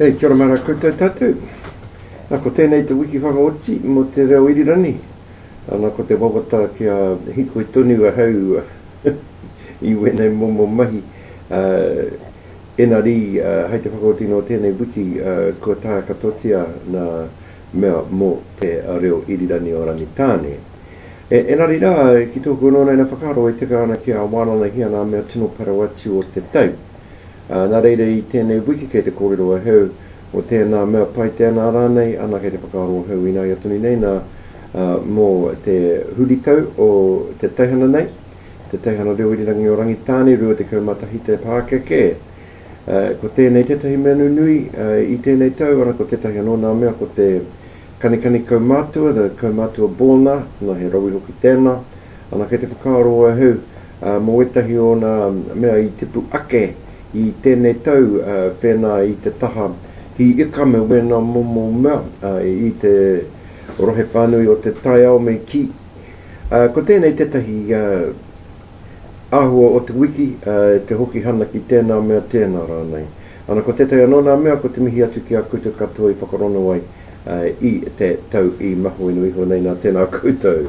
E kia ora mai rā koutou tātou. Nā, ko tēnei te wiki whakaoti mō te reo irirangi. Nā, ko te wawata kia hikoi tonu ahau i wēnei momo mahi. Ēnari, hai te whakaoti nō tēnei wiki, kua tākatotia nā mea mō te reo irirangi o Rangitāne. Engari rā, ki tōku anō naina whakaaro e tika ana ki a Wānanahia ngā mea tino parau atu o te tau. Nā reira i tēnei wiki kei te kōrero ahau mō tēnā mea pai tēnā rānei, anā kei te whakaaro ahau ināia tonu nei nā mō te huritau o te teihana nei, te teihana reo irirangi o Rangitāne 21 te pākeke. Ko tēnei tētahi mea nunui i tēnei tau, arā, ko tētahi anō nā mea ko te kanikani kaumātua, the kaumātua born-a, nā, he rawi hoki tēnā. Ana, kei te whakaaro ahau, mō wētahi o ōna mea i tipu ake i tēnei tau, whēnā i te taha hī ika me wēnā momo mea i te rohe whānui o te taiao me kī, ko tēnei tētahi āhua o te wiki, te hoki hana ki tēnā mea tēnā rānei. Ana ko tētahi anō nā mea ko te mihi atu ki a koutou katoa i whakarono ai i te tau i mahuinu iho nei nā tēnā koutou.